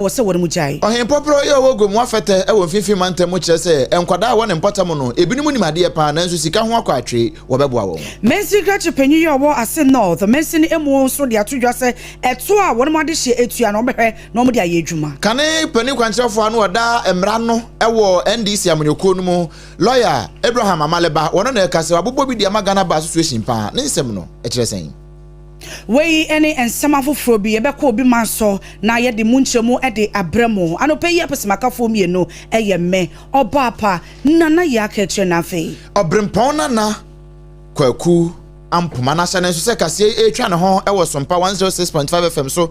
wɔ sɛ wɔnom gyae. Ɔhen Pɔprɔ yɛ ɔwɔ Guam wafɛtɛ wɔ mfimfini mantam mu kyerɛ sɛ nkwadaa a ɛwɔ ne mpɔtam mu no ebinom nim adeɛ paa nanso sika ho akɔ atwe wɔbɛboa wɔn. Mansin krakye panyin yɛ ɔwɔ Asin North mansin mu nso de ato dwa sɛ ɛtoɔ a wɔnom adehyeɛ atua no wɔbɛhwɛ na wɔde ayɛ adwuma. Kane panin kwankyerɛfoɔ a na ɔda mmara no wɔ NDC amanyɔkuo no mu lɔya Abraham Amale ba wɔno na ɛka sɛ wabobɔ bi de ama Ghana Bar Association paa ne nsɛm no kyerɛ sɛn? Wei ne nsɛm afoforɔ bi yɛbɛkɔ obi man so na yɛde mu nkyerɛmu de abrɛ mo. Anɔpa yi apɛsɛmakafoɔ mmienu yɛ me, Ɔbaapa Nana Yɛakɛkyerɛ na afei. Ɔberempɔn Nana Kwaku Ampoma. N'ahyɛne nso sɛ kaseɛ yi retwa ne ho wɔ Sompa 106.5 FM so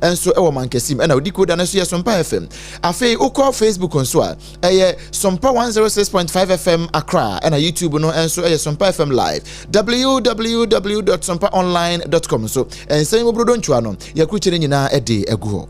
nso wɔ mankɛsim ɛna wodi koda no nso yɛ sompa fm afei wokɔ facebook nso a ɛyɛ sompa 106.5 fm akra ɛna youtube no nso ɛyɛ sompa fm live www sompa online com nso ɛnsɛn mu brodo ntwa no yɛkurukye no nyinaa ɛde agu hɔ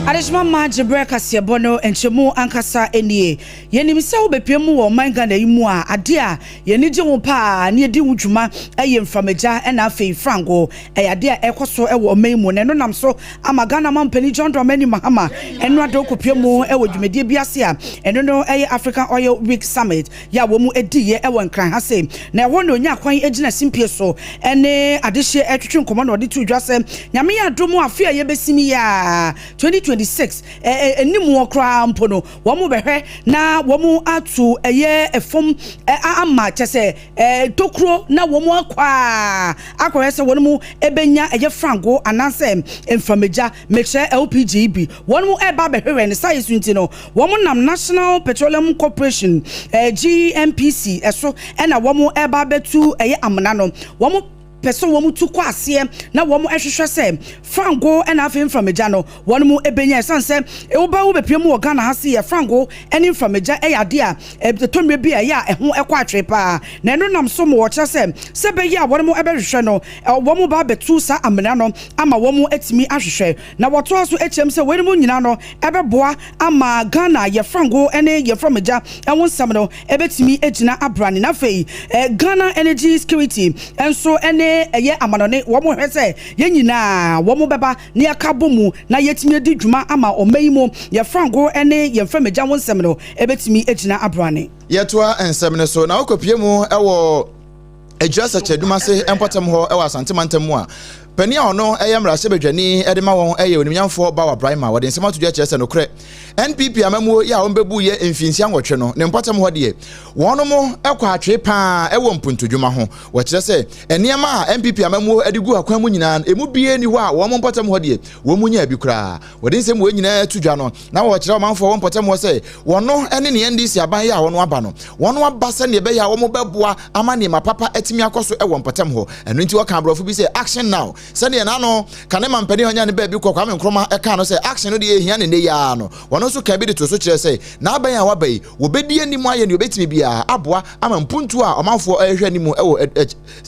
Adehyema mma gyebrɛ kaseɛbɔ no nkyɛmu ankasa nie. Yɛnim sɛ wobɛpue mu wɔ ɔman Ghana yi mu a, adeɛ a yɛn ani gye ho pa ara na yɛdi ho dwuma yɛ mframagya na afei frango. Ɛyɛ adeɛ a ɛrekɔ so wɔ ɔman yi mu na ɛno nam so ama Ghana Mampanin John Dramani Mahama Ɛno Addo kɔpue mu wɔ dwumadie bi ase a ɛno no yɛ African Oil Week Summit. yɛ a wɔdiiɛ wɔ Nkran ha sei, na ɛhɔ na ɔnyaa kwan gyinaa simpie so ne adehyeɛ retwetwe nkɔmmɔ na ɔde too dwa sɛ, Nyame adom a afe a yɛbɛsim yi ara, 2026, animuɔ koraa mpo no, wɔbɛhwɛ na wɔato ɛyɛ fam ama, kyerɛ sɛ tokuro, na wɔakɔ a akɔhwɛ sɛ wɔnom bɛnya ɛyɛ frango anaasɛ mframagya, mekyerɛ LPG, bi. Wɔnom reba abɛhwehwɛ ne saayɛ su nti no, wɔnom nam National Petroleum Corporation, GNPC, so na wɔnom reba abɛtu ɛyɛ amena no. Wɔnom pɛ sɛ wɔnom tu kɔ aseɛ na wɔnom hwehwɛ sɛ frango na afei mframagya no wɔnom bɛnya. Ɛsiane sɛ woba wobɛpie mu wɔ Ghana ha se yɛ frango ne mframagya yɛ adeɛ a ɛtɔ mmerɛ bi a ɛyɛ a ɛho kɔ atwee paa. Na ɛno nam so ma wɔkyerɛ sɛ sɛ ɛbɛyɛ a wɔnom bɛhwehwɛ no wɔnom ba abɛtu saa amena no ama wɔnom atumi ahwehwɛ Na wɔtoaa so kyeam sɛ weinom nyinaa no bɛboa ama Ghana yɛfra ngo ne yɛfra mogya ho nsɛm no bɛtumi agyina abrane. Na afei Ghana Energy Security nso ne ɛyɛ amanɔne, wɔhwɛ sɛ yɛn nyinaa wɔbɛba na yɛaka abɔ mu na yɛatumi adi dwuma ama ɔman yi mu yɛfra ngo ne yɛmfra mogya ho nsɛm no bɛtumi agyina abrane. Yɛtoa nsɛm no so na wɔkɔpue mu wɔ. Agyira Sɛkyɛdum ase mpɔtam hɔ wɔ Asante mantam mu a panin a ɔno yɛ mmarahyɛbadwani de ma wɔn yɛ onimnyamfoɔ Bawa Braima wɔde nsɛm ato dwa kyerɛ sɛ nokorɛ NPP amammuo yɛ a wɔbɛbu yɛ mfinhyia nwɔtwe no ne mpɔtam hɔ deɛ wɔn mo kɔ atwee paa wɔ mpuntudwuma ho wɔkyerɛ sɛ nneɛma a NPP amammuo de gu akwan mu nyinaa emu bie ni hɔ a wɔn mpɔtam hɔ deɛ wɔn mu nyaa bi koraa wɔde nsɛm wɔ nyinaa to dwa no na wɔkyerɛ ɔmanfoɔ wɔ mpɔtamuɔ sɛ wɔno ne ne ndc aban yɛ a wɔn aba no wɔn aba sɛdeɛ ɛbɛyɛ a wɔn bɛboa ama nneɛma papa atumi akɔ so wɔ mpɔtam hɔ ɛno nti wɔka aborɔfo bi sɛ action now sɛdeɛ n'ano ka ne mampanin ɔnya ne baabi kɔ kwame nkroma ɛka no sɛ action no deɛ ɛhia ne nnɛ yia no wɔn nso ka bi de to so kyerɛ sɛ n'aban a waba yi wɔbɛdi anim ayɛ ne wɔbɛtumi biara aboa ama mpuntuo a ɔmanfoɔ ɛrehwɛ anim wɔ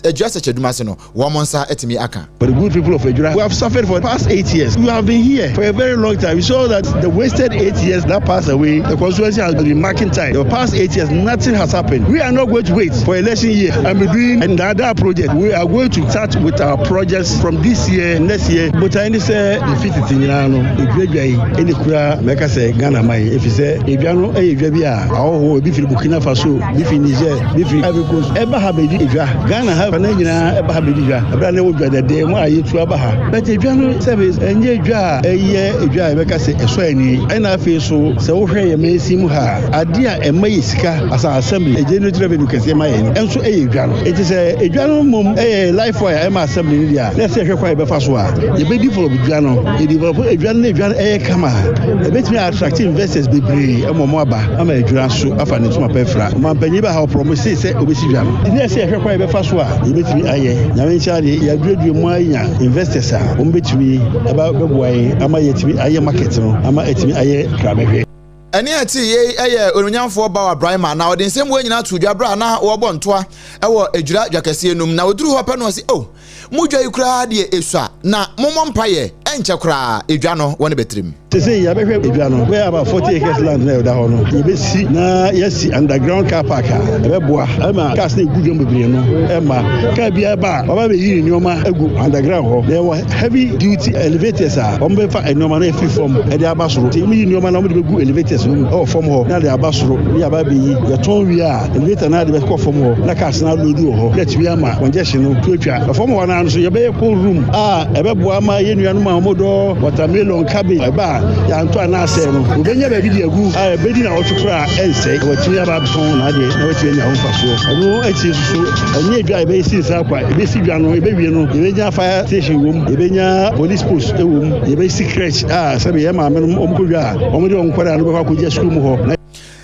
adwuasɛkyɛ adwuma ase no wɔn nsa atumi aka. For the good people of Adwira who have suffered for past eight years, you have been here for a very long time, you saw that the wasted eight years that passed away, the constituency has been marking time, the past eight years nothing has happened, we are not going to wait for election year and be doing a Ndaadaa project, we are going to start with our projects from this year, next year. Botae ne sɛ efi tete nyinaa no, Adwiradwa yi ɛne kura mɛka sɛ Ghana man, efi sɛ Adwa no ɛyɛ dwa bi a ahɔhoɔ ebi firi Burkina Faso, Bi fi Niger, bi fi Ivory Coast ɛba ha bɛdi dwa. Ghana ha fa no nyinaa ɛba ha bɛdi dwa. Ɛberɛ a na ɛwɔ dwa dɛdɛɛ mu a yɛtu aba ha. But dwa no sɛbe ɛnyɛ dwa a ɛyɛ dwa a yɛbɛka sɛ ɛsɔ ani. Ɛna afei so sɛ wohwɛ yɛn mansin mu ha a, adeɛ a ɛma yɛ sika as an assembly, ɛgenerate revenue kɛseɛ ma yɛn no nso ɛyɛ dwa no. Enti sɛ dwa no mmom ɛyɛ life wire ɛma assembly no deɛ a, na ɛsɛ yɛhwɛ kwan a yɛbɛfa so a yɛbɛdevelop dwa no. Yɛdevelop dwa no na dwa no ɛyɛ kama a, ɛbɛtumi a attract investors bebree ma wɔaba. ama adwira so afa ne ntoma pa afira. Ɔmampanyin baa ha, ɔporɔw mo see sɛ obesi dwa no. Nti na ɛsɛ yɛhwɛ kwan a yɛbɛfa so a yebetumi ayɛ. Nyame nkyɛn ara deɛ, yɛaduadua mu ara anya investors a wɔbetumi aba abɛboa yɛn ama yɛatumi ayɛ market no ama atumi ayɛ krabɛhwɛ. Ɛnne a ɛte yei yɛ Onuonyamfoɔ Bawa Braimah, na ɔde nsɛmmoa nyinaa too dwa berɛ a na wɔrebɔ ntoa wɔ adwira dwakɛseɛ no mu. Na ɔduruu hɔ pɛ no ɔse, Oh! Modwa yi koraa deɛ ɛsua na momɔ mpaeɛ ɛnkyɛ koraa ɛdwa no wɔ ne bɛtirim. Sesei yɛabɛhwɛ edwa no, where about 40 acres land no a ɛda hɔ no yɛbɛsi na yɛasi underground car park a ɛbɛboa ma cars no a ɛgu dwam bebree no mma car biara ba a waba abɛyi ne nnoɔma agu underground hɔ na yɛwɔ heavy duty elevators a wɔbɛfa nnoɔma no afiri fam de aba soro nti wɔyi nnoɔma no a wɔde bɛgu elevators no mu wɔ fam hɔ na de aba soro na yɛaba abɛyi yɛtɔn wie a Generator no ara de bɛkɔ fam hɔ na cars no aloodu wɔ hɔ na atumi ama wɔn gyɛhye no to atwa. Fam hɔ no ara nso yɛbɛyɛ cold room a ɛbɛboa ama yɛn nuanom a wɔdɔ watermelon, cabbage, ɛba a yɛantɔ anaa asɛe no, wɔbɛnya baabi de agu a ɛbɛdi nnawɔtwe koraa a ɛnsɛe na wɔatumi aba abɛtɔn n'adeɛ na wɔatumi anya ho mfasoɔ. Ɛno akyi nso so, ɛnyɛ edwa a yɛbɛsi nsa akwa, yɛbɛsi dwa no, yɛbɛwie no, yɛbɛnya fire station wɔ mu, yɛbɛnya police post wɔ mu, yɛbɛsi crèche a sɛdeɛ yɛn maamenom wɔkɔdwa a wɔde wɔn nkwadaa no bɛkɔ akɔgya sukuu mu hɔ na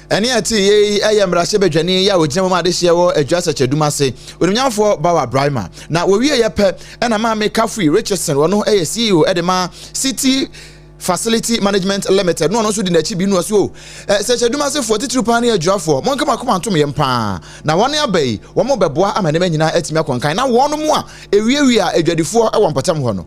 Ɛnne a ɛte yiye yi yɛ mmarahyɛbadwani a ogyina mu ma adehyeɛ wɔ Adwa Asɛkyɛdum ase, onimnyamfoɔ Bawa Braima. Na wɔwieeɛ pɛ na Maame Kafui Richardson, ɔno yɛ CEO de ma City Facility Management Limited, na ɔno nso di n'akyi bi nua so. Sɛkyɛdum asefoɔ titiriw paa ne adwuafoɔ, monka mo akoma ntom yɛn paa. Na wɔn aba yi, wɔbɛboa ama nneɛma nyinaa atumi akɔ nkan na wɔn mu a ewiawia adwadifoɔ wɔ mpɔtam hɔ no.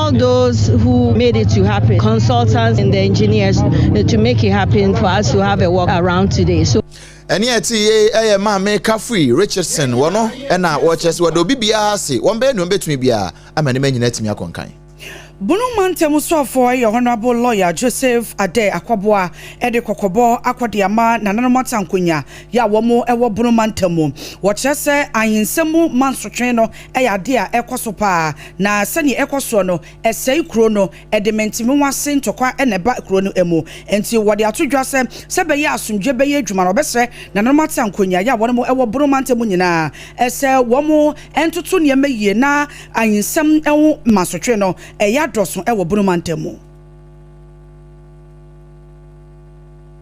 all those who made it to happen, consultants and the engineers eh, to make it happen for us to have a walk around today. So. ɛne ɛte ye ɛyɛ maame kafri richardson wɔ no ɛna wɔkyerɛ sɛ wɔde obi biara ase wɔn bɛyɛ nea wɔbɛtumi biara ama ne ma nyina atumi akɔnkan Bunu mantam sɔfoɔ yɛ honorable lawyer Joseph Ade Akwaboa de kɔkɔbɔ akɔde ama nananom atankonya yɛ a wɔn wɔ Bunu mantam mu. Wɔkyerɛ sɛ ahensɛm mu mansotwe no yɛ ade a ɛkɔ so paa, na sɛnea ɛkɔ soɔ no, ɛsɛe kuro no, ɛde mentemenwase ntɔkwa na ɛba kuro no mu. Enti wɔde ato dwa sɛ, sɛ ɛbɛyɛ a asomdwoeɛ bɛyɛ adwuma no, wɔbɛsrɛ nananom atena nkonyaaeɛ a wɔwɔ Bono mantam mu nyinaa sɛ wɔntoto nneɛma yie na ayinsɛm ho masotwe no reyɛ adɔso wɔ Bono mantam mu.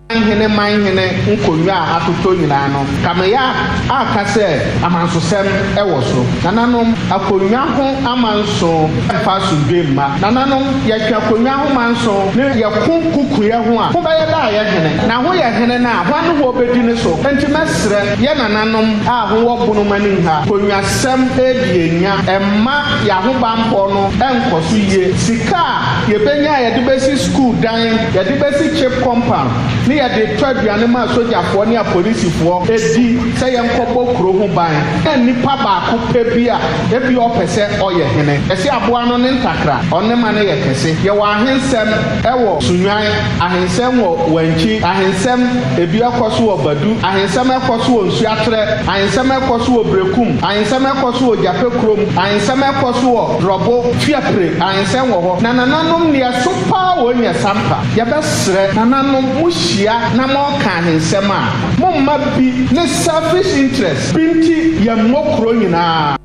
Amanhene man hene nkonnwa a atotɔ nyinaa no, Kamea a ka sɛ amansosɛm wɔ so. Nananom, akonnwa ho amanso mfa asomdwoe mma. Nananom, yɛtwe akonnwa ho manso ne yɛko kukuiɛ ho a, ho bɛyɛ dɛ a yɛ hene. Na ho yɛ hene no a, hwan ne ho ɔbɛdi ne so? Enti mɛsrɛ yɛ nananom a ho wɔ bono ma ne nha konnwasɛm edi yɛn nya mma yɛ ahobanbɔ no nkɔ so yie. Sika a yɛbɛnya a yɛde bɛsi Sukuu dan, yɛde bɛsi chip compound, ne yɛde retɔ aduane ma asogyafoɔ ne apolisifoɔ di sɛ yɛnkɔbɔ kuro ho ban, na nnipa baako pɛ bi a ebia ɔpɛ sɛ ɔyɛ hene. Yɛse aboa no ne ntakra, ɔne ma no yɛ kɛse. Yɛwɔ ahensɛm wɔ Sunnwan, ahensɛm wɔ Wankyi, ahensɛm ebi ɛkɔ so wɔ Badu, ahensɛm ɛkɔ so wɔ Nsuatrɛ, ahensɛm ɛkɔ so wɔ Brekum, ahensɛm ɛkɔ so wɔ Gyapɛ kurom, ahensɛm ɛkɔ so wɔ Drɔbo, Fiapre, ahensɛm wɔ hɔ. Na nananom nneɛ. So paa wɔnya sampa? Yɛbɛsrɛ nananom mo hyia na mo reka ahensɛm a, mo mma bi ne selfish interest bi nti yɛn mmɔ kuro nyinaa.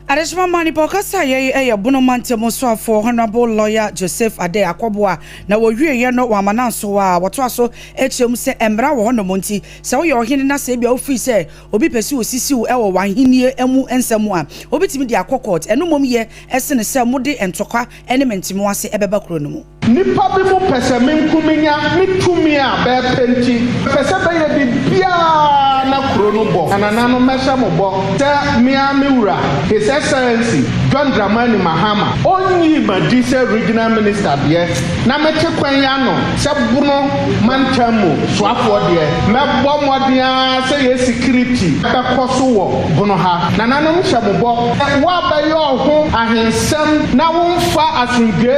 Adesoma ma nipa ɔkasa yɛ yi yɛ Bono mantam soafoɔ Honourable Lawyer Joseph Adeh Akwɔbo a na wɔwie yɛ no wɔ Amanansoɔ a wɔtoa so kyerɛ mu sɛ mmara wɔ hɔ nom nti sɛ woyɛ ɔhene na sɛ ebia wofiri sɛ obi pɛ sɛ ɔsisi wo wɔ w'ahennie mu nsɛm mu a wobɛtumi de akɔ court ɛno mmom yɛ sene sɛ mode ntɔkwa ne me ntimu ase bɛba kuro no mu. Nnipa binom pɛ sɛ me nko menya me tumi a bɛpɛ nti, mepɛ sɛ bɛyɛ biribiara na kuro no bɔ. Anananom, mɛhyɛ mo bɔ sɛ me ara me Wura, His Excellency John Dramani Mahama, ɔnnyii m'adi sɛ Regional Minister deɛ na mete kwan yi ano sɛ Bono mantam mu soafoɔ deɛ, mɛbɔ mmɔden ara sɛ yɛn security bɛkɔ so wɔ Bono ha. Nananom, mehyɛ mo bɔ sɛ woabɛyɛ ɔho ahensan. Sɛm na wo nfa asomdwe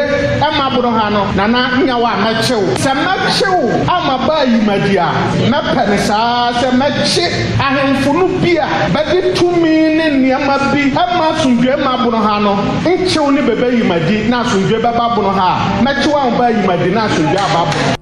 ɛma boro ha no nana nyɛ wo a mɛkye wo sɛ mɛkye wo ama baa yi madi a mɛpɛ ne saa sɛ mɛkye ahenfo no bi a bɛde tumi ne nneɛma bi ɛma asomdwe ma boro ha no nkye wo ne bɛbɛ yi madi na asomdwe bɛba boro ha a mɛkye wo ama baa yi madi na asomdwe aba boro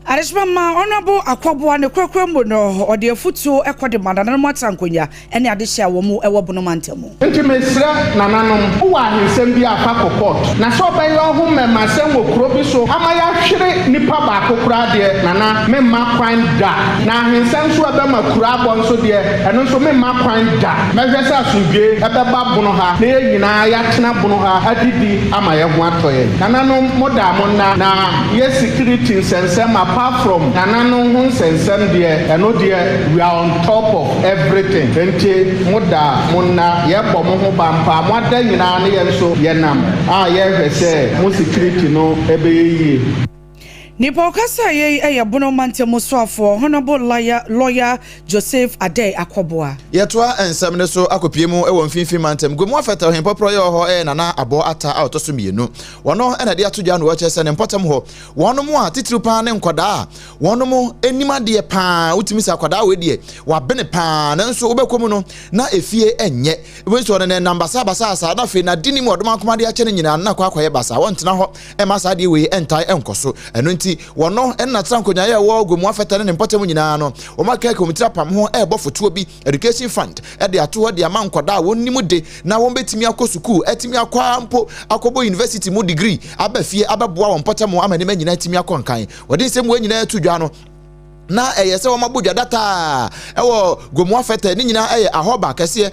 Adesoa ma Honourable Akwaboah ne korakora mu no, ɔde afutuo kɔ de ma nananom atankonwa ne adehye a wɔn wɔ Bono mantam mu. Nti mesrɛ nananom, wowɔ ahensɛm bi a fa kɔ court, na sɛ ɔbɛyɛ ɔho mmɛmasɛm wɔ kuro bi so ama yɛahwere nipa baako koraa deɛ, nana, memma kwan da. Na ahensɛm nso a ɛbɛma kuro abɔ nso deɛ, ɛno nso memma kwan da. Mɛhwɛ sɛ asomdwoeɛ bɛba Bono ha na yɛn nyinaa yɛatena Bono ha adidi ama yɛn ho atɔ yɛn. Nananom, modaa mo nna na Yɛ security nsɛnsɛm apart from nananom ho nsɛnsɛm deɛ ɛno deɛ we are on top of everything nti mo da mo nna yɛ bɔ mo ho ban paa mo ada nyinaa no yɛ nso yɛ nam a yɛ hwɛ sɛ mo security no ɛbɛyɛ yie. Nipa ɔkasaa yɛ yi yɛ Bono mantamu soafoɔ Honourable Lawyer Lawyer Joseph Adei Akɔboa. Yɛtoa nsɛm no so akɔpue mu wɔ Mfinfin Mantam, Guamu Afɛtɛw Hempɔprɔ yɛ hɔ yɛ Nana Abɔɔ Atta a ɔtɔ so mmienu. wɔno na ɛde ato dwa no wɔkyerɛ sɛ ne mpɔtam hɔ wɔnom a titiriw paa ne nkɔdaa a wɔnom anim adeɛ paa wotumi sɛ akɔdaa wei deɛ wabene paa nanso wobɛkɔ mu no na efie ɛnyɛ ebi nso ɔno nam basa basa asa na afei na di nim ɔdom akoma de akyɛ ne nyinaa na akɔ akɔyɛ basa wɔntena hɔ ɛma saa adeɛ wei ɛntae ɛnkɔ so ɛno nti wɔno ɛna tra nkonyayɛ wɔ gomu afɛtɛ ne ne mpɔtam nyinaa no wɔn akɛkɛ wɔn tiri apam ho ɛrebɔ fotoɔ bi education fund de ato hɔ de ama nkwadaa a wɔnim de na wɔbɛtumi akɔ sukuu atumi akɔ ara mpo akɔbɔ university mu degree aba fie abɛboa wɔn mpɔtam ama nneɛma nyinaa atumi akɔ nkan wɔde nsɛm wɔn nyinaa to dwa no na ɛyɛ sɛ wɔabɔ dwa dataa ɛwɔ gomoa fɛtɛ ne nyinaa ɛyɛ ahɔba kɛseɛ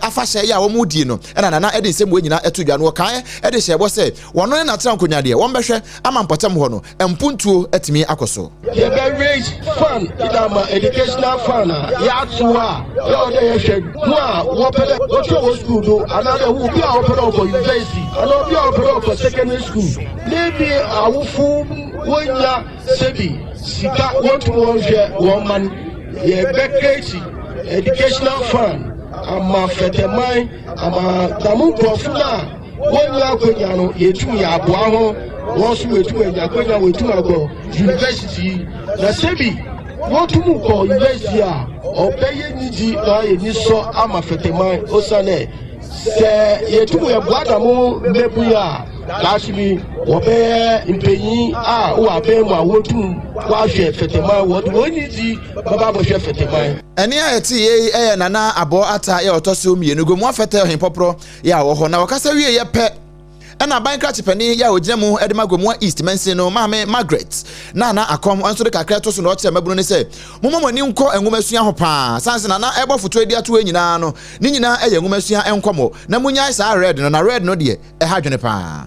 afahyɛ yɛ a wɔdie no ɛna nana ɛde nsɛm wɔn nyinaa ɛto dwa no wɔkaeɛ ɛde hyɛ bɔ sɛ Wɔno ne n'atena nkonyadeɛ. Wɔn bɛhwɛ ama mpɔtam hɔ no mpuntuo atumi akɔ so. Yɛbɛ raise fund de ama educational fund a yɛato a yɛ ɔdɛ yɛhwɛ ho a wɔpɛ dɛ wɔtwerɛ wɔ school do anaadɛ wo bi a wɔpɛ dɛ wɔkɔ university anaa obi a wɔpɛ dɛ wɔkɔ secondary school ne bi awofo wɔnya sɛbi sika wɔntumi wɔnhwɛ wɔn man yɛbɛ create educational fund ama fɛtɛman ama damo nkurɔfo no a Wonnya akwanya no, yetum yɛ aboa ho, hɔn so woetum enya akwanya woetum akɔ university, na sɛ bi wotum kɔ university a, ɔbɛyɛ nyidzi na ɔayɛ enyisɔ ama Fɛtɛman osiandɛ sɛ yetum yɛboa dɛm mbabun yi a, daakye bi wɔbɛyɛ mpanyin a wɔ aban mu a wotum wɔahwɛ Fɛtɛman, wɔdze hɔn nyidzi bɛba abɔhwɛ Fɛtɛman. Nea ɛte yei yɛ Nana Abɔɔ Atta yɛ ɔtɔ so mmienu Gomoa Fɛtɛ Ɔhenpɔprɔ yɛ a wɔhɔ na wɔkasa wieeɛ pɛ ɛna aban krakyepɛni yɛ a ɔgyina mu de ma Gomoa East mansin no maame Margaret Nana Akɔm nso de kakra to so na ɔkyerɛ mmabunu no sɛ momma mo ani nkɔ nwomasua ho paa san se nana ɛbɔ fotoe de atoe nyinaa no ne nyinaa ɛyɛ nwomasua nkɔmmɔ na munyae saa red no na red no deɛ ɛha dwene paa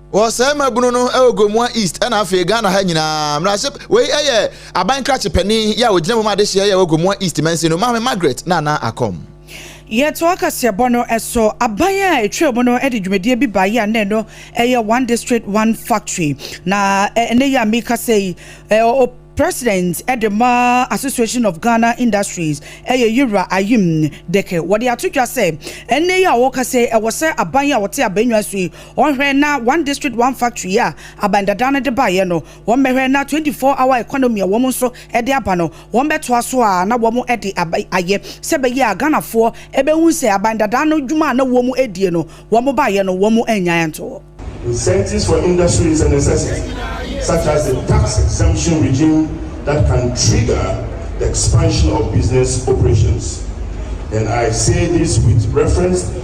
Wɔsɛe mmabunu no wɔ Gomoa East na afei Ghana ha nyinaa. Mmarahyɛ wei yɛ aban krakye panyin yɛ a ogyina mu ma adehyeɛ yɛ wɔ Gomoa East mansin no, Maame Margaret Nana Akɔm. Yɛtoa kaseɛbɔ no so. Aban a ɛtwaa mu no de dwumadie bi baeɛ a na ɛno yɛ One District, One Factory. Na ɛnnɛ yi a merekasa yi, ɔ President de ma Association of Ghana Industries yɛ Yewura Ayim Deke. Wɔde ato dwa sɛ ɛnnɛ yi a wɔrekasa yi, ɛwɔ sɛ aban a wɔte aban nnwan so yi, Wɔnhwɛ na one district one factory yi a aban dada no de baeɛ no, wɔmmɛhwɛ na twenty four hour economy a wɔn nso de aba no, wɔmmɛtoa so ara na wɔn de aba ayɛ. Sɛ ɛbɛyɛ a Ghanafoɔ bɛhu sɛ aban dada no dwuma a na wɔn die no, wɔn baeɛ no wɔn annyae anto hɔ. Incentives for industry is a necessity, such as a tax exemption regime that can trigger the expansion of business operations, and I say this with reference.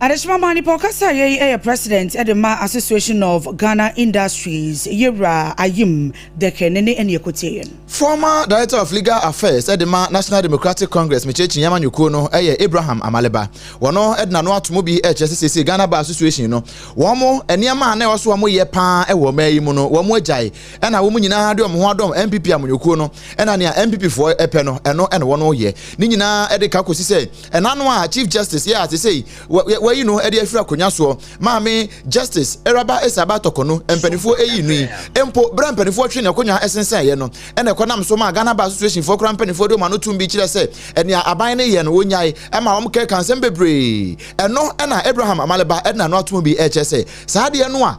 Adesoa maa nipa ɔkasa yɛ yi yɛ president de ma association of Ghana industries yɛwura ayim dɛkɛ ne ne ɛne ɛkɔtie yɛ no. Former director of legal affairs de ma national democratic congress mekyerɛkyi yɛma nyɔkuo no yɛ Abraham Amaleba wɔno de nano ato mu bi kyerɛ sɛ sɛsɛ Ghana bar association no wɔn mo nneɛma a na ɛwɔ so wɔn yɛ paa wɔ ɔmaa yi mu no wɔn agyae ɛna wɔn nyinaa de wɔn ho adɔm MPP amanyɔkuo no ɛna nea MPP foɔ ɛpɛ no ɛno ɛna wɔn yɛ ne nyinaa de ka kɔsi sɛ ɛna no a chief justice yɛ ate sei wayi no de afiri akonnwa soɔ maame justice ɛraba ɛsaba tɔkɔ no mpanimfoɔ ɛyi no yi mpo berɛ mpanimfoɔ twe ne akonnwa ɛsensɛn yɛ no ɛna ɛkɔnam so ma Ghana Bar Association foɔ kora mpanimfoɔ de ɔma no tum bi kyerɛ sɛ ɛnea aban no yɛ no wɔnyae ɛma wɔn kɛka nsɛm bebree ɛno ɛna Abraham Amaleba ɛna no atom bi ɛkyɛ sɛ saa deɛ no a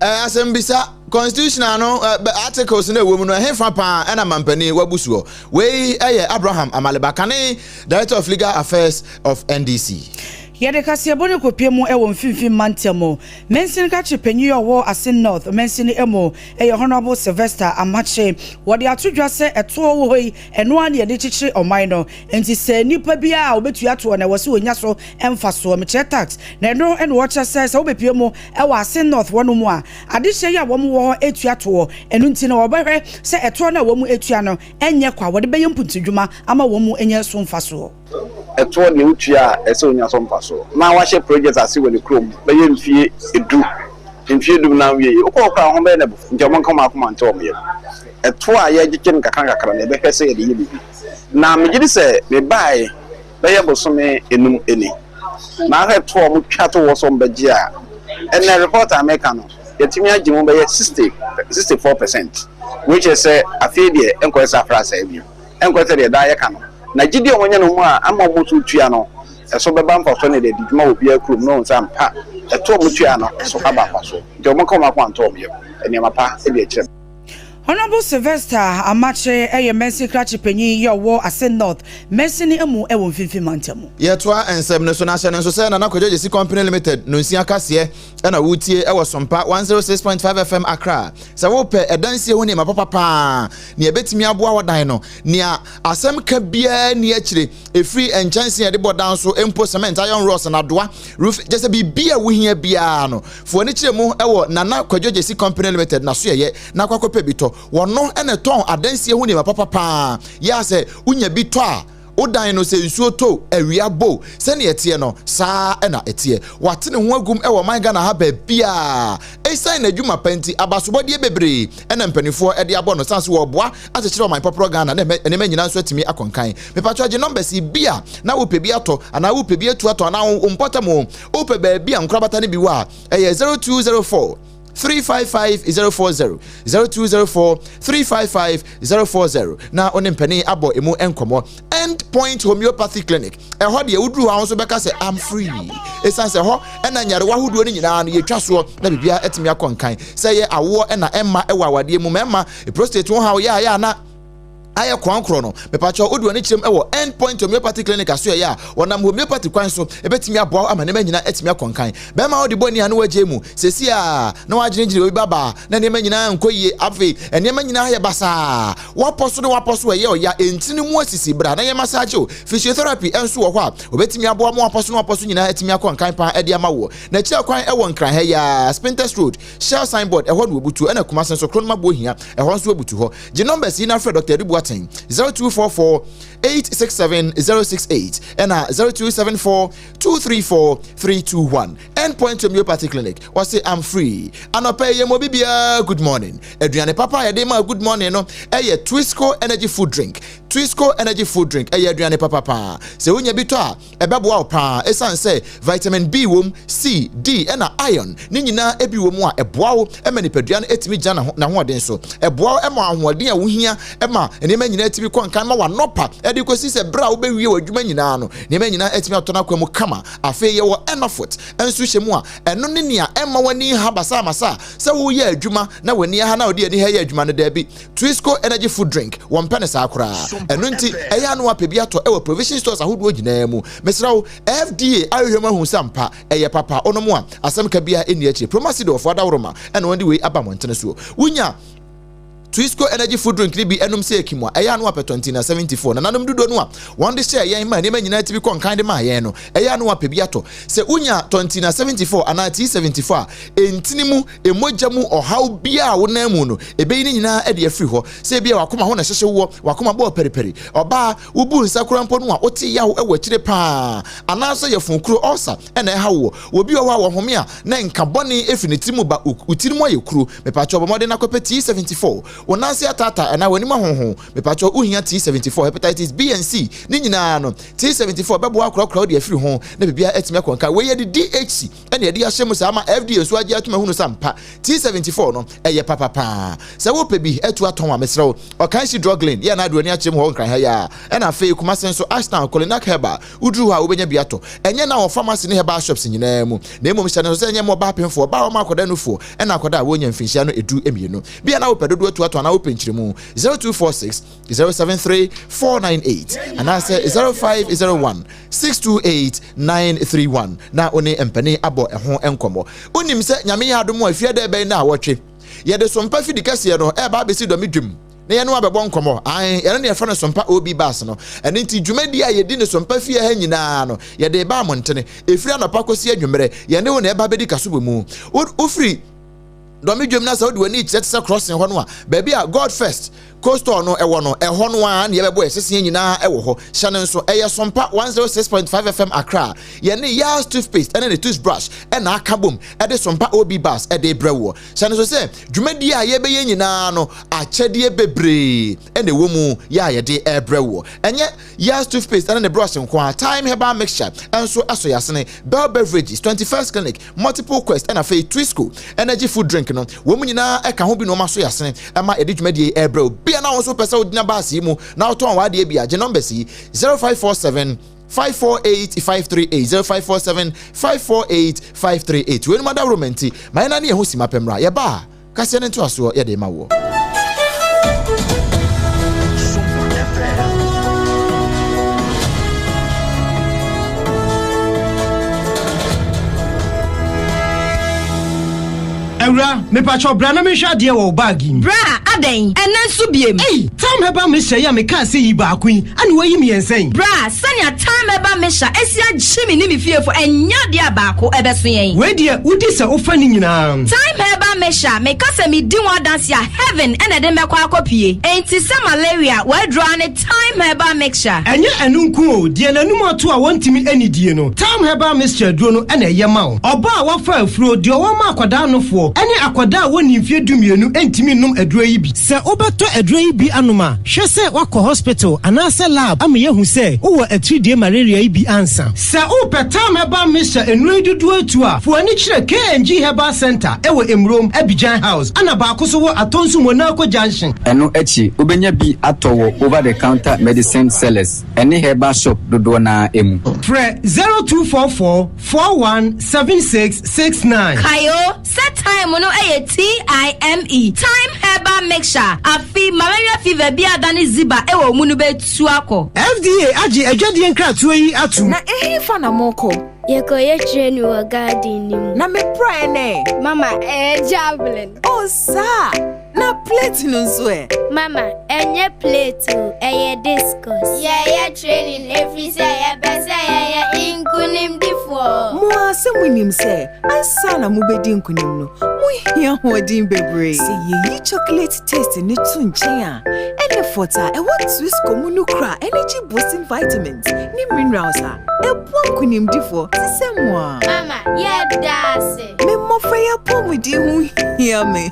Eh, asɛmbisa constitution ano eh, articles na ɛwɔ mu no ɛhefa paa ɛna mampanin wabu soɔ wei ɛyɛ abraham amaleba kane director of legal affairs of ndc Yɛde kaseɛbɔ no kɔpie mu wɔ mfimfini mantam mu. Mansin kakye panyin yɛ ɔwɔ Asin North mansin mu yɛ Honourable Sylvester Amakye. Wɔde ato dwa sɛ ɛtoɔ wɔ hɔ yi, ɛno ara na yɛde kyekyere ɔman no. Nti sɛ nipa biara a obetua toɔ na ɛwɔ sɛ onya so mfasoɔ, mekyerɛ tax, na ɛno na wɔkyɛ sɛ sɛ wobepie mu wɔ ase North hɔnom a, adehyeɛ yi a wɔn wɔ hɔ tua toɔ, ɛno nti na wɔbɛhwɛ sɛ ɛtoɔ no a wɔn tua no nyɛ kwa, wɔde bɛyɛ mpuntudwuma ama wɔn anya so mfasoɔ. Ɛtoɔ deɛ wotua a ɛsɛ onya so mfasoɔ, na wahyɛ project ase wɔ ne kurom bɛyɛ mfie du, mfie du na awie yɛ, wokɔ hɔ koraa a ho bɛyɛ no abu, nti wɔn nka wɔn akoma nto wɔn yam, ɛtoɔ a yɛgyegye no nkakra nkakra no yɛbɛhwɛ sɛ yɛde yɛ biribi, na megye di sɛ mebaeɛ. bɛyɛ bosome enum ni. Mahwɛ toɔ a ɔmo twa to hɔ sɛ ɔmo bɛgye a, ɛnɛ report a meka no yɛtumi agye mu bɛyɛ sixty, sixty four percent. Wei kyerɛ sɛ afei deɛ ɛnkɔyɛ sɛ afra saa bio. Ɛnkɔyɛ sɛ deɛ daa yɛka no. Na gyidie a ɔmo anya no mu a ama ɔmo so tua no, ɛso bɛba mfasoɔ na yɛde adi dwuma wɔ obiara kurom na wɔahu sɛ ampa ɛto a ɔmo tuaeɛ no so aba mfasoɔ. Nti ɔmo nka ɔmo akoma nto ɔmo yam. Nneɛma pa de akyerɛ me. Honourable Sylvester Amakye yɛ Mersin krakye panyin yi a ɔwɔ Ase North, Mersin mu wɔ Mfimfini Mantam mu. Yɛtoa nsɛm no so na hyɛ no nso sɛ Nana Kwadwo Gyasi Company Limited no nsia kaseɛ na wotie wɔ Sompa 106.5 FM Accra. Sɛ wopɛ adansie ho nneɛma papa paa nea ɛbɛtumi aboa w'adan no, nea asɛm ka biara nni akyire, ɛfiri nkyɛnse a yɛde bɔ dan so mpo, cement, iron rods, nnadoa, roofing, kyerɛ sɛ biribi a wohia biara no, Fo ani kyerɛ mu wɔ Nana Kwadwo Gyasi Company Limited n'asoɛyɛ na akɔ akɔpɛ bi tɔ. Wɔno na ɛtɔn adansie ho nneɛma papa paa. Yɛ a sɛ wonya bi tɔ a, wo dan no sɛ nsuo to, awia bɔ o, sɛnea ɛteɛ no, saa ara na ɛteɛ. Wate ne ho agum wɔ ɔman Ghana ha baabiara. Ɛsiane n'adwuma pa nti, abasobɔdeɛ bebree na mpanimfoɔ de abɔ no, sane nso wɔreboa akyekyere ɔman pɔporɔ Ghana na nneɛma nyinaa nso atumi akɔ nkan. Mepakyɛ gye numbers yi, bi a na wopɛ bi atɔ anaa wopɛ bi atu atɔ anaa wo mpɔtam o, wopɛ baabi a nkorabata no bi wɔ a ɛyɛ 0204 355 040 0204 355 040 na wo ne mpanin abɔ emu nkɔmmɔ end point homeopathy clinic ɛhɔ deɛ woduru hɔ a wo nso bɛka sɛ am free ɛsiane sɛ hɔ ɛna nyarewa ahodoɔ no nyinaa no yɛtwa soɔ na biribiara atumi akɔ nkan sɛ yɛ awoɔ ɛna ɛma ɛwɔ awadeɛ mu mɛma prostate ho haw yɛayɛ ana ayɛ kwan korɔ no mepakyɛw wode w'ani kyerɛm wɔ end point homeopathy clinic aso ɛyɛ a wɔnam homeopathy kwan so ɛbɛtumi aboa wo ama nneɛma nyinaa atumi akɔ nkan bɛrima wode bɔ ani a na wagye mu sɛsi a na wagyinagyina obi babaa na nneɛma nyinaa nkɔ yie afei nneɛma nyinaa yɛ basaa wapɔ so ne wapɔ so ɛyɛ ɔya ɛntini no mu asisi bra na yɛ massage o physiotherapy ɛnso wɔ hɔ a wɔbɛtumi aboa ma wapɔ so ne wapɔ so nyinaa atumi akɔ nkan paa ɛde ama woɔ na akyira kwan ɛwɔ nkran ha yɛ a spintex road shell signboard ɛhɔ na wɔbutuo ɛna kuma sen so kronoma boɔ hia ɛhɔ nso wɔbutu hɔ gye numbers yi na frɛ dr adi boateng 0244 867 068 ɛna 0274 234 321 endpoint homeopathy clinic wɔse am free anɔpɛ yɛ mɔ bibiaa good morning aduane papa a yɛde ma good morning no ɛyɛ twisco energy food drink twisco energy food drink ɛyɛ aduane papa paa sɛ wonya bi tɔ a ɛbɛboa wo paa ɛsiane sɛ vitamin B wom, C, D ɛna iron ne nyinaa bi wom a ɛboa wo ma nipadua no ɛtumi gyina n'ahoɔden so. Ɛboa wo ma ahoɔden a wohia ma nneɛma nyinaa ɛtumi kɔ nkan ma wanɔpa ɛde kɔsi sɛ berɛ a wobɛwie w'adwuma nyinaa no nneɛma nyinaa ɛtumi atɔ n'akwa mu kama. Afei yɛwɔ Enofut nso hyɛ mu a ɛno ne nea ɛmma w'ani ha basaamasa sɛ woyɛ adwuma na w'ani aha na wode ani ha yɛ adwuma no daabi. Twisco Energy Food Drink, wɔmpɛ no saa koraa. Ɛno nti, ɛyɛ a na wɔapɛ bi atɔ wɔ provision stores ahodoɔ nyinaa mu. Mesrɛ wo, FDA ahwehwɛ mu ahu sɛ ampa ɛyɛ papa. Wonom a, asɛm ka biara nni akyire. Promasidol foɔ adaworoma na wɔde wei aba mmɔntene soɔ. Wonya Twisco Energy Food Drink no bi nom sɛ akim a, ɛyɛ a na wɔapɛ Tɔntina 74. Nananom dodoɔ no a wɔde hyɛɛ yɛn maa nneɛma nyinaa ti bi kɔ nkan de maa yɛn no, ɛyɛ a na wɔapɛ bi atɔ. Sɛ wonya Tɔntina 74 anaa T74 a, ɛntini mu. mogya mu ɔhaw biara a wonam mu no, ebeyi ne nyinaa de afiri hɔ. Sɛ ebia w'akoma ho na ɛhyehye woɔ, w'akoma bɔɔ pɛripɛri, ɔbaa, wobu nsa koraa mpo no a, wote yaw wɔ akyire paa, anaasɛ yafunu kuro, ulcer, na ɛhaw woɔ. Wɔ bi wɔ hɔ a, wɔhome a, na nka bɔne firi ne tiri mu ba, wo, wo tiri mu ayɛ kuro. Mepaakyɛw bɔ mmɔden na kɔpɛ tea 74. Wo nan ase ataataa anaa w'anim ahonho, mepaakyɛw wohia tea 74. Hepatitis B and C, ne nyinaa no, tea 74 bɛboa akorakora wo de afiri ho, na biribiara atumi akɔ nka. Wei yɛ de DHC. ɛna ɛde ahyɛ mu saa ama fda nso agye atum ahunu sa mpa t74 no ɛyɛ papa paa sɛ wopɛ bi atu atɔn a mesrɛ wo ɔkan si druglin yɛ na aduani akyɛ mu hɔ nkran ha yi a ɛna afei kuma se nso ashtown kolinak heba woduru hɔ a wobɛnya bi atɔ ɛnyɛ na wɔ pharmacy ne heba shops nyinaa mu na mmom hyɛ no sɛ ɛnyɛ mmɔ ɔbaa pemfoɔ ɔbaa ɔma akɔda nufoɔ ɛna akɔda a wɔnya mfinhyia no edu mmienu bi a na wopɛ dodo atu atɔn anaa wopɛ nkyerɛmu 0246 073498 anaasɛ 0501 628 931 na wo ne mpanin abɔ ɛho nkɔmmɔ wonim sɛ nyame yɛ adom a fiada ɛbɛn no a wɔtwe yɛde sompa fidi kɛseɛ no ɛba abɛsi dɔme dwam na yɛne wabɛbɔ nkɔmmɔ ae yɛne ne yɛfrɛ no sompa ob bas no ɛno nti dwumadi a yɛdi ne sompa fie ha nyinaa no yɛde ba mo ntene ɛfiri anɔpa kɔsi anwummerɛ yɛne wo na ɛba bɛdi kaso wɔ mu wofiri dɔme dwam na sɛ wode w'ani kyerɛ te sɛ crossing hɔ no a baabi a god first coastal no ɛwɔ no ɛhɔ no a ne yɛbɛbɔ yɛ seseɛ nyinaa ɛwɔ hɔ hyɛ no nso ɛyɛ sompa 106.5 fm akra yɛne yas toothpaste ɛne ne toothbrush ɛna aka bom ɛde sompa ob bus ɛde brɛ woɔ hyɛ no so sɛ dwumadie a yɛbɛyɛ nyinaa no akyɛdeɛ bebree ɛna ɛwɔ mu yɛ a yɛde ɛbrɛ woɔ ɛnyɛ Yaz toothpaste ne ne brush nko ara, Time herbal mixture nso so yasene, Bell beverages, 21st clinic, multiple quest na afei Twisco energy food drink no, wɔn nyinaa ɛka ho bi na wɔn aso yasene ɛma yɛde dwumadie yi ɛrebrɛ wo. Bia na wɔn nso pɛ sɛ wogyina baase yi mu na wotɔn w'adeɛ bi a, gye numbers yi 0547 548 538 0547 548 538 weinom adaworo ma nti ma yɛn nane yɛn ho si mapɛ mmra yɛba a Kaseɛ no ntoasoɔ yɛde rema woɔ. Awura, mepakyɛw bra na menhwɛ adeɛ wɔ wo bag yi mu. Bra, adɛn? Ɛnnɛ nso biem? Ei! Tamhɛba Mesha yi a mekaa sɛ yi baako yi, ɛne wayi me yɛn sɛn? Bra, sɛnea Tamhɛba Mesha asi agye me ne me fiefo, ɛnyɛ adeɛ a baako ɛbɛso yɛn. Wei deɛ wodi sɛ wofa ne nyinaa. Tamhɛba Mesha, meka sɛ medi ho adanseɛ a, heaven ɛna ɛde mɛkɔ akɔpie. Enti sɛ malaria waduro ara ne Tamhɛba Mesha. Ɛnyɛ ɛno nko o, deɛ n'anum ato a wɔntumi nnidie no, Tamhɛba Mesha aduro no ɛna ɛyɛ ma wo. Ɔbaa a wafa afuro, deɛ ɔwɔ ma akwadaa anofoɔ, ɛne akwadaa a wɔnnii mfeɛ dumienu ntumi nnom aduro yi bi. Sɛ wobɛtɔ aduro yi bi anom a, hwɛ sɛ woakɔ hospital anaasɛ lab ama yɛahu sɛ wowɔ atiridie malaria yi bi ansa. Sɛ wopɛ tam herbal mixture nnuro yi dodoɔ atu a, fo ani kyerɛ KNG Herbal Centre ɛwɔ Emurom, Abidjan House, ɛna baako nso wɔ Atonsu Monarco Junction. Ɛno akyi, wobɛnya bi atɔ wɔ over the counter medicine sellers ɛne herbal shop dodoɔ no ara mu. Frɛ zero two four four. Four one seven six six nine. Kae o sɛ thyme no yɛ T-I-M-E, Thyme Herbal Mixture. Afei malaria fever bi a adane ziba wɔ mu no bɛtu akɔ. FDA agye adwadie nkratoɔ yi atom. Na ɛhefa na mokɔ? Yɛkɔyɛ training wɔ garden no mu. Na me prayer ne. Mama, ɛyɛ javelin. Oh, saa a! Na plate no nso ɛ? Mama, ɛnyɛ plate o, ɛyɛ discus. Yɛyɛ training ɛfiri sɛ yɛpɛ sɛ yɛyɛ nkunimdifoɔ. Mo ara sɛ monim sɛ ansa na mobɛdi nkunim no, mohia hoɔden bebree. Sɛ yɛyi chocolate taste no to nkyɛn a, ɛne fɔt a ɛwɔ Twisco mu no kura energy boosting vitamins ne minerals a ɛboa nkunimdifoɔ te sɛ mo a. Mama, yɛda ase. Me mmofra yi apɔmuden ho hia me.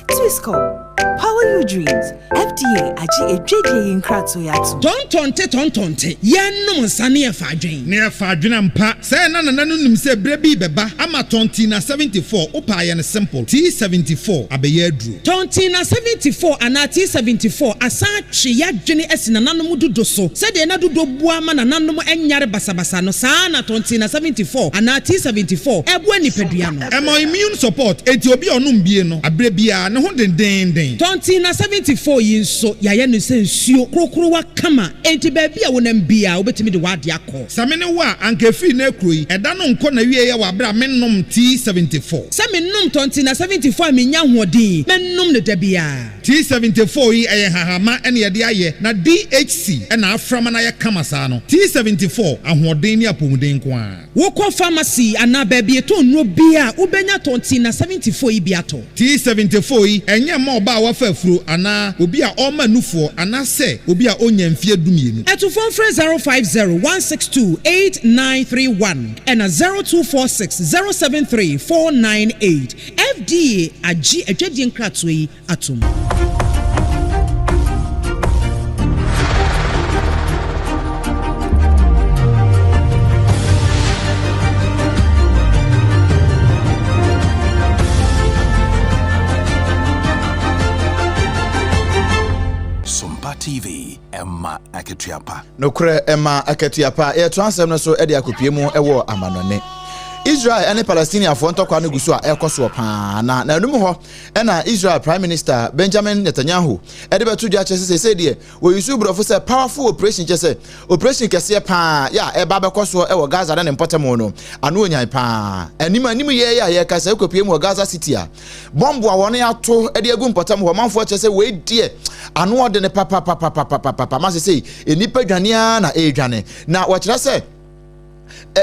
Tuskor, Power your dreams, FDA agye adwadie yi nkratoe atom. Tɔntɔnte tɔntɔnte, yɛnnom nsa ne yɛfa adwen. Ne yɛfa adwen ampa. Sɛɛ na Nana no nim sɛ berɛ bi rebɛba ama tɔntee na 74 wopaa yɛn simple, tea 74 abɛyɛ aduro. Tɔn Tee na 74 anaa Tee 74 asan atwe yɛadwene asi nananom dodo so. Sɛdeɛ na dodo boa ma nananom nyare basabasa no, saa ara na Tɔn Tee na 74 anaa Tee 74 boa nipadua no. Ɛma immune support, enti obi a ɔnom bie no, aberɛ biara ne ho dendeenden. Tɔn Tee na 74 yi nso, yɛayɛ no sɛ nsuo, krokrowa kama, enti baabi a wonam biara wobɛtumi de w'adeɛ akɔ. Sɛ me ne wo a, anka efii nnɛ kuro yi. Ɛda no nkɔ n'awieɛ wɔ aberɛ a mennom tea seventy four. Sɛ mennom tɔ nti na seventy four a mennya ahoɔden mɛnom no da biara. Tea seventy four yi ɛyɛ nhahamma na yɛde ayɛ na DHC na afra ma no ayɛ kama saa no. Tea seventy four, ahoɔden ne apɔmuden nko ara. Wokɔ pharmacy anaa baabi yɛtɔn nnuro biara a, wobɛnya tɔ nti na seventy four yi bi atɔ. T74 yi, ɛnyɛ mma ɔbaa a wafa afuro anaa obi a ɔrema nufoɔ anaasɛ obi a ɔnnya mfeɛ dumienu. To fon frɛ 0501628931 ɛna 0246073498. FDA agye adwadie nkratoɔ yi atom. TV ɛma akatua pa. nokorɛ ɛma akatua pa yɛto asɛm no so ɛde akopie mu ɛwɔ amanɔne israel ne palestiniafoɔ ntɔkwa no gu so a ɛrekɔ soɔ paa na n'anum hɔ ɛna israel prime minister benjamin netanyahu ɛde bɛto dwa kyerɛ sɛ sɛsɛ deɛ Wɔyusu borɔfo sɛ powerful operation kyɛ sɛ operation kɛseɛ paa yɛ a ɛba bɛkɔ soɔ ɛwɔ Gaza ne ne mpɔtamu no ano onyan paa anim anim yɛ yɛ a yɛka sɛ ɛkɔpie mu wɔ Gaza City a bɔmbo a wɔne ato de agu mpɔtamu hɔ manfoɔ kyɛ sɛ wei deɛ ano ɔde ne papapapapapapapa ma sɛ sɛ nnipa dwane a na ɛredwane na wɔkyerɛ sɛ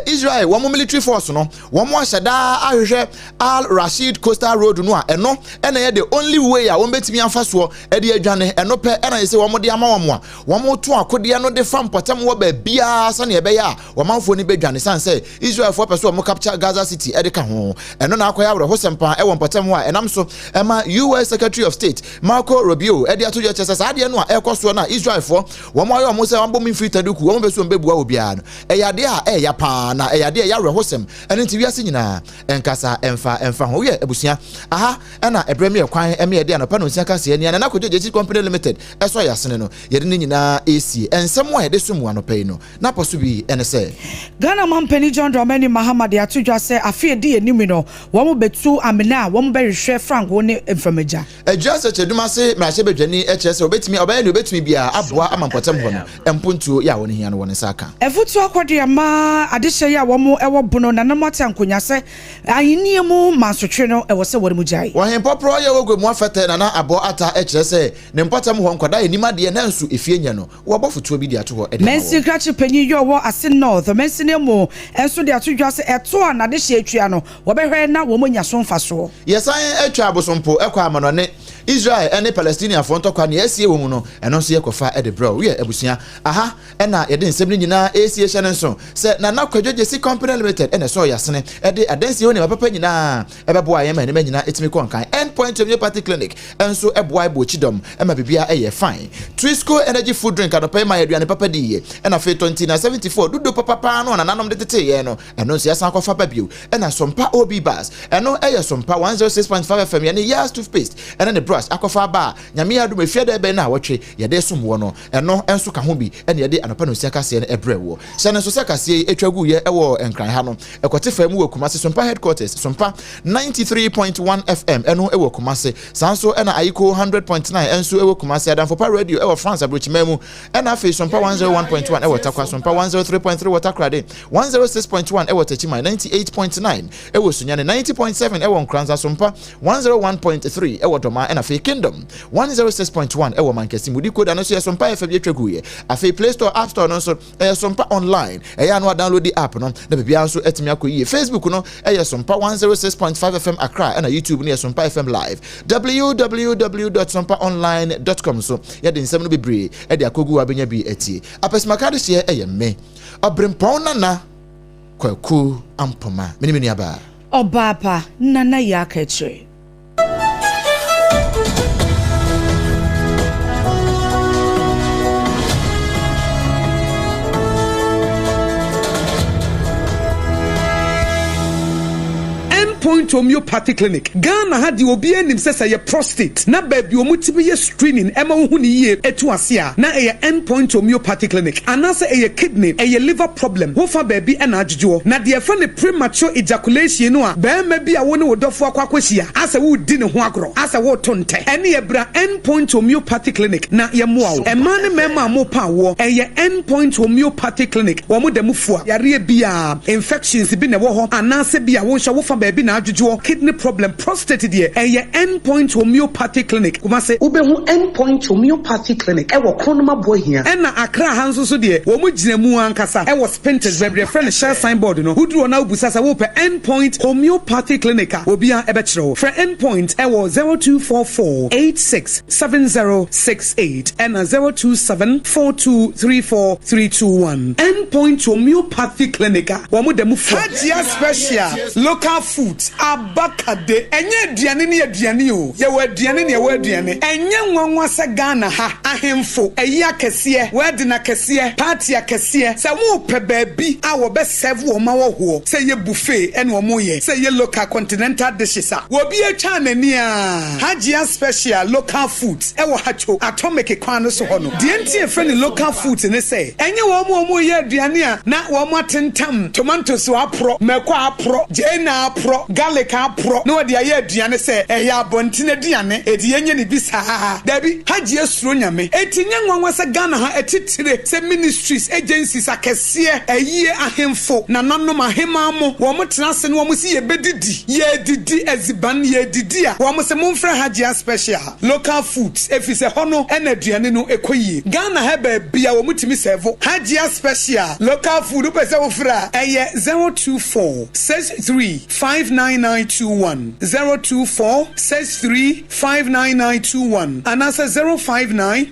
Israel wɔn military force no wɔn ahyɛ daa ahwehwɛ Al Rashid coastal road no a ɛno ɛna ɛyɛ the only way a wɔn bɛtumi afa soɔ ɛde adwane ɛno pɛ ɛna yɛ sɛ wɔn de ama wɔn a wɔn to akodeɛ no de fa mpɔtam wɔ baabiara sɛnea ɛbɛyɛ a wɔn amanfoɔ no bɛdwane san sɛ Israelfoɔ pɛ so wɔn capture Gaza city ɛde ka ho ɛno na akɔyɛ awerɛhosɛm paa ɛwɔ mpɔtam hɔ a ɛnam so ɛma US Secretary of State Marco Rubio ɛde ato yɛ kyɛ sɛ saa adeɛ no a ɛrekɔ soɔ no a Israelfoɔ wɔn ayɛ wɔn sɛ wɔn abɔ mu mfiri taduku wɔn bɛso wɔn bɛbua obiara no Ɛyɛ ade a ɛyɛ ya paa, na ɛyɛ ade a ɛyɛ awerɛhosɛm. Ɛno nti, wiase nyinaa, ɛnkasa, ɛmfa, ɛmfa ho wo yɛ abusua. Aha, ɛna ɛbrɛ me ɛkwan ma yɛde anɔpa nnɔnsia kaseɛ Nea Nana Kwadwo Gyasi Company Limited ɛsɔ yɛn asene no, yɛde ne nyinaa resie. Nsɛm a yɛde som mu anɔpa yi no, n'apɔ so bi ne sɛ. Ghana Mampanin John Dramani Mahama de ato dwa sɛ afe a edi yɛn anim yi no, wɔbɛtu amena a wɔbɛhwehwɛ frango ne mframagya. Adwiri asɛkyerɛdum ase mmarahyɛbadwani kyerɛ sɛ obetumi ɔbɛyɛ nea obetumi biara aboa ama mpɔtam hɔ no mpontuo yɛ a wɔn hia no wɔn nsa aka. Afutuo akɔde ama adehyeɛ yɛ a wɔn wɔ bono na na mo ate ankonya sɛ ahennie mu mansotwe no ɛwɔ sɛ wɔn mu gyae. Wɔ hempɔporɔ yɛ wɔ gua mu afɛtɛ na na abɔ ata kyerɛ sɛ ne mpɔtam hɔ nkwadaa nnim adeɛ nanso efie nyɛ no Wɔabɔ afotuo bi de ato hɔ de ama Mansin wɔn. krakye panyin yɛ ɔwɔ Asin North mansin amu nso de ato dwa sɛ ɛto a n'adehyeɛ atua no, wɔbɛhwɛ na wɔanya so mfasoɔ. Yɛsan atwa abosompo kɔ amanɔne, Israel ne Palestiniafoɔ ntɔkwa nea asie wɔ mu no, ɛno nso yɛkɔfa de brɛ wo. Woyɛ abusua a, ha na yɛde nsɛm no nyinaa resie hyɛ no nso sɛ Nana Kwadwo Gyesi Company Limited na ɛsɔɔ yɛn asene de adansie ho nneɛma papa nyinaa ɛbɛboa yɛn ma nneɛma nyinaa etumi kɔ nkan. End Point Homeopathy Clinic nso boa ɛbɔ kyidɔm ma biribiara ɛyɛ fine. Trisco Energy Food Drink anɔpa yi ma yɛn aduane papa di yie. Ɛna afei tɔ nti na 74 dudo papa paa no a nananom de tetee yɛn no, ɛno nso yɛasan akɔfa aba bio. Ɛna Sompa OB Bars, ɛno ɛyɛ Sompa 106.5 FM, yɛne Yaz Toothpaste ɛne ne brush akɔfa aba a Nyame adom efi ɛda ɛbɛn nnawɔtwe yɛde resom wɔ no. Ɛno nso ka ho bi na yɛde anɔpa no nsia kaseɛ no brɛ woɔ. Hyɛ no nso sɛ kaseɛ yi ɛtwa guiɛ wɔ Nkran ha no. Ɛkɔte fam wɔ Kumase Sompa Headquarters, Sompa 93.1 FM ɛno wɔ Kumase. Saa nso ɛna Ayiko 100.9 ɛnso ɛwɔ Kumase, Adamfopa Radio ɛwɔ France Abrokyiman mu, ɛna afei Sompa 101.1 ɛwɔ Takwa, Sompa 103.3 wɔ Takorade, 106.1 ɛwɔ Takyiman, 98.9 ɛwɔ Sunyani, 90.7 ɛwɔ Nkranza, Sompa one zero one point three ɛwɔ dɔmaa ɛna afei kingdom one zero six point one ɛwɔ mankɛse mu decoder no nso yɛ sompa ɛfɛ bi atwa gu yɛ afei play store app store no nso ɛyɛ sompa online ɛyɛ ano a download the app no na biribi nso ɛtumi akɔ yie facebook no ɛyɛ sompa one zero six point five fm akra ɛna youtube no yɛ sompa fm live www.sompaonline.com so yɛde nsɛm no bebree ɛde akɔgu abɛnya bi atie apɛsimakade hyeɛ ɛyɛ me ɔbrempɔn nana Kwaku Ampomah, me ne me nuabaa. Ɔbaa pa, Nana Yak Akyire. Endpoint Homeopathy Clinic, Ghana ha deɛ obiara nim sɛ sɛ ɛyɛ prostate na baabi wɔn ti bi yɛ. screening ɛma wohu no yie ɛtu ase a na ɛyɛ end point homeopathy clinic anaasɛ ɛyɛ kidney ɛyɛ liver problem wo fa baabi ɛna adwodwoɔ na deɛ ɛfrɛ no premature ejaculation no a barima bi a wo ne wo dɔfoɔ akɔ akɔhyia asɛ woredi ne ho agorɔ asɛ woreto ntɛ ɛneɛ bra end point homeopathy clinic na yɛmmoa wo mmaa ne mmarima a mopɛ awoɔ ɛyɛ end point homeopathy clinic wɔn da mu fua yareɛ biara infections bi na ɛwɔ hɔ anaasɛ bi a wo nso wo fa baabi na adwodwoɔ kidney problem Prostate deɛ, ɛyɛ End Point Homeopathic Clinic, Kumasi. Wobɛhu End Point Homeopathic Clinic wɔ Kronomah Boahia. Ɛna Accra ha nso so deɛ, wɔn gyina mu ankasa wɔ Spintex baabi deɛ, frɛ no Shell Sign Board no. Woduru hɔ na wobisa sɛ wopɛ End Point Homeopathic Clinic a, obiara bɛkyerɛ wo. Frɛ End Point wɔ zero two four four eight six seven zero six eight ɛna zero two seven four two three four three two one. End Point Homeopathic Clinic a, wɔn da mu fua. Hajia Special. Local foods, abaka de, ɛnyɛ aduane ne aduane o, yɛwɔ aduane ne ɛwɔ aduane. Ɛnyɛ nwanwa sɛ Ghana ha, ahemfo, ayi akɛseɛ, wedding akɛseɛ, party akɛseɛ, sɛ wɔrepɛ baabi a wɔbɛ serve wɔn ma wɔhoɔ, sɛ ɛyɛ buffet ɛna wɔreyɛ, sɛ ɛyɛ local continental dishes a, obiara twaa n'ani aa, Hajia special, local foods. wɔ ha too atomeke kwan no so hɔ no. Deɛ nti a yɛfrɛ no local foods ne sɛ, ɛnyɛ wɔn a wɔreyɛ aduane a na wɔatentam tomantos aporɔ, mako aporɔ, gyeene aporɔ, garlic aporɔ na wɔde ayɛ aduane sɛ ɛyɛ abɔnten aduane, enti yɛnyɛ no bi saa. Daabi, Hajiah suro Nyame. Enti ɛnyɛ nwanwa sɛ Ghana ha atitire sɛ ministries, agencies akɛseɛ, ayie ahemfo, nananom, ahemaa mo, wɔtena ase na wɔse yɛbɛdidi, yɛredidi adziban, yɛredidi a, wɔse momfrɛ Hajiah special. Local foods efisɛ hɔ no na aduane no kɔ yie. Ghana ha baabi a wɔtumi sɛɛvo Hajia special local food wopɛ sɛ wo frɛ a ɛyɛ zero two four six three five nine nine two one zero two four six three five nine nine two one anaasɛ zero five nine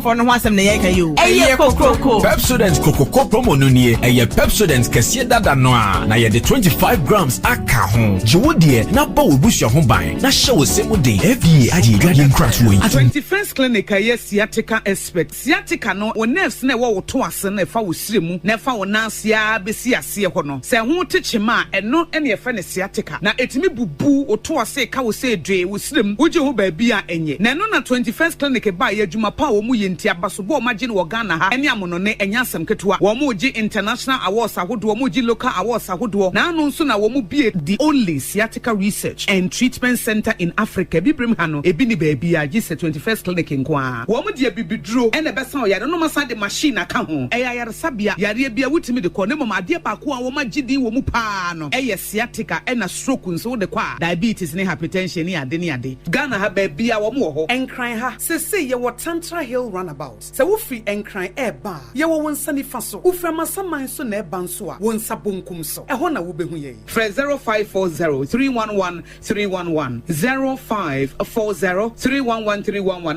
fɔfɔfɔ no ho asɛm na yɛreka yi o. Ɛyɛ kokroko. Pepsodent kokroko promo no nie. Ɛyɛ Pepsodent kɛseɛ dada no a, na yɛde 25 grams aka ho. Gye wo deɛ na bɔ w'abusua ho ban na hyɛ wo se mu den. FDA agye yɛn dwadeɛ nkratoɔ yi atom. Twenty First Clinic a ɛyɛ sciatica expert. Sciatica no, wo nerves no a ɛwɔ wo to ase no a ɛfa wo srɛ mu na ɛfa wo nan ase ara bɛsi aseɛ hɔ no, sɛ ɛho te kyema a, ɛno na yɛfrɛ no sciatica. Na etumi bubu wo to ase ka wo sɛ dwe wo srɛ mu wogye ho baabi a ɛnyɛ. Na ɛno na Twenty First Clinic baeɛ adwuma pa a wɔn yɛ nti abasobɔ a wɔn agye no wɔ Ghana ha ne amonone ɛnyɛ asɛm ketewa. Wɔn gye international awards ahodoɔ, wɔn gye local awards ahodoɔ na ano nso na wɔn bue the only sciatica research and treatment centre in Africa. Abibirem ha no ebi nni baabiara gye sɛ Twenty First Clinic nko ara. Wɔn de abibiduro na ɛbɛsa wo yare na wɔn asan de machine aka ho. Ɛyɛ ayaresabea yareɛ bi a wotumi de kɔ na mmom adeɛ baako a wɔn agye din wɔ mu pa ara no yɛ. sciatica na stroke nso wode kɔ a, diabetes ne hypertension ne ade ne ade. Ghana ha baabiaa wɔn wɔ hɔ. Nkran ha, seesei yɛwɔ Tantra Hill Runabout. Sɛ wofiri Nkran ɛɛba a, yɛwɔ wo nsa nifa so. Wofiri Amasaman so na ɛɛba nso a, wo nsa bonkum so. Ɛhɔ na wobɛhu yɛn. Frɛ zero five four zero three one one three one one, zero five four zero three one one three one one.